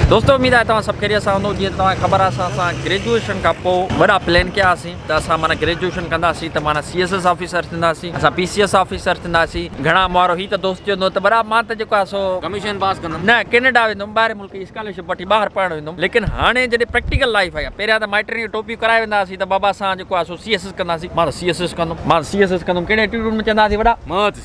دوستو اميد آهي توهان سڀ خيريت سان هوندو جيئن ته توهان کي خبر آهي اسان سان گريجوئيشن کان پوء وڏا پلان ڪيا هئاسين ته اسان معنيٰ گريجوئيشن ڪنداسين ته معنيٰ سي ايس ايس آفيسر ٿينداسين اسان پي سي ايس آفيسر ٿينداسين گهڻا ماڻهو هي ته دوست چوندو ته برا مان ته جيڪو آهي سو ڪميشن پاس ڪندم نه ڪينيڊا ويندم ٻاهرين ملڪ جي اسڪالرشپ وٺي ٻاهر پڙهڻ ويندم ليڪن هاڻي جڏهن پريڪٽيڪل لائيف آئي آهي پهريان ته مائٽن کي ٽوپيون ڪرائي ويندا هئاسين ته بابا اسان جيڪو آهي سو سي ايس ايس ڪنداسين مان ته سي ايس ايس ڪندم مان ته سي ايس ايس ڪندم ڪهڙي ائٽيٽوڊ ۾ چوندا هئاسين وڏا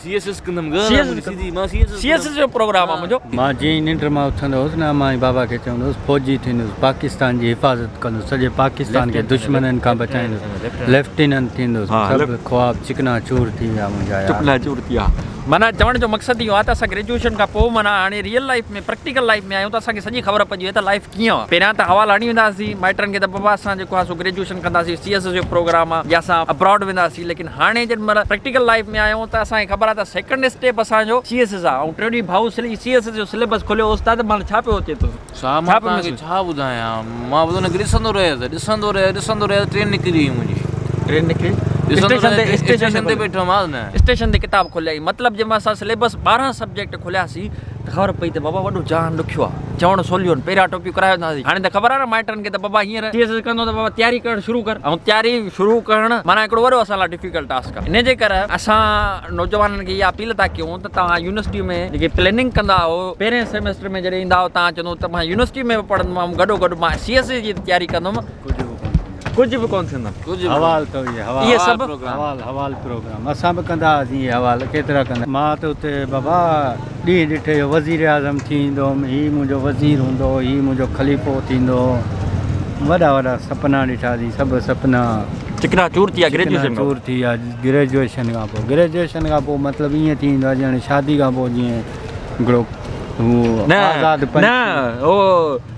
سي ايس ايس ڪندم گهر آ منهنجي سيدي مان سي ايس ايس جو پروگرام آ منهنجو. مان جئين ننڊ مان اٿندو هوس نه مائي بابا کي چوندو هوس فوجي ٿيندوس پاڪستان جي حفاظت ڪندوس سڄي پاڪستان کي دشمنن کان بچائيندوس ليفٽيننٽ ٿيندوس سڀ خواب چڪنا چور ٿي ويا منهنجا يار. چڪنا چور ٿي ويا معنيٰ چوڻ جو مقصد اهو آ ته اسان گريجوئيشن کان پوء معنيٰ هاڻي ريئل لائيف ۾ پريڪٽيڪل لائيف ۾ آهيون ته اسان کي سڄي خبر پئجي وئي ته لائيف ڪيئن آ پهريان ته حوال هڻي ويندا هئاسين مائٽن کي ته بابا اسان جيڪو آ سو گريجوئيشن ڪنداسين سي ايس ايس جو پروگرام آ يا اسان ابراڊ وينداسين ليڪن هاڻي جيڏي مهل پريڪٽيڪل لائيف ۾ آهيون ته اسان کي خبر آهي ته سيڪنڊ اسٽيپ اسان جو سي ايس ايس آهي ۽ ٽريڊي ڀائو سلي سي ايس ايس جو سليبس کوليو استاد مهل ڇا پيو اچي تو صاحب مان توهان کي ڇا ٻڌايان مان بس ان کي ڏسندو رهيس ڏسندو رهيس ڏسندو رهيس ٽرين نڪري وئي منهنجي ٽرين نڪري اسٽيشن تي اسٽيشن تي بيٺو ماس نه اسٽيشن تي ڪتاب کوليائين مطلب جي مهل اسان سليبس ٻارهن سبجيڪٽ کولياسين ته خبر پئي ته بابا وڏو جهان ڏکيو آ. چوڻ سوليون، پهريان ٽوپيون ڪرائي ويندا هئاسين. هاڻي ته خبر آ نه مائٽن کي ته بابا هينئر سي ايس ايس ڪندو ته بابا تياري ڪرڻ شروع ڪر. ۽ تياري شروع ڪرڻ معنيٰ هڪڙو وڏو اسان لاء ڊفيڪلٽ ٽاسڪ آ. ان جي ڪر اسان نوجوانن کي اها اپيل ٿا ڪيون ته توهان يونيورسٽي ۾ جيڪي پليننگ ڪندا آهو، پهرين سيمسٽر ۾ جڏهن ايندا آهو توهان چوندو ته مان يونيورسٽي ۾ به پڙهندومام گڏو گڏ مان سي ايس ايس جي تياري ڪندوم. ڪجهه به ڪونه ٿيندو. ڪجهه به ڪونه ٿيندن. حوال ته اهي حوال. اهي سڀ حوال حوال پروگرام. اسان به ڪندا هئاسين اهي حوال ڪيترا ڪندا. مان ته اتي بابا ڏينهن ڏٺي جو وزير اعظم ٿي ايندو هوم هي منهنجو وزير هوندو هي منهنجو خليفو ٿيندو وڏا وڏا سپنا ڏٺا سين سڀ سپنا چڪنا چور ٿي ويا گريجوئيشن کان پوء. چڪنا چور ٿي ويا گريجوئيشن کان پوء. گريجوئيشن کان پوء مطلب ائين ٿي ويندو آهي ڄڻ شادي کان پوء جيئن هڪڙو هو آزاد پنڇي. نه نه هو.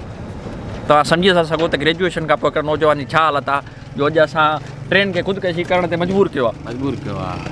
توهان سمجهي ٿا سگهو ته گريجوئيشن کان پوء هڪڙي نوجوان جي ڇا حالت آهي جو اڄ اسان ٽين کي خودڪشي ڪرڻ تي مجبور ڪيو آهي.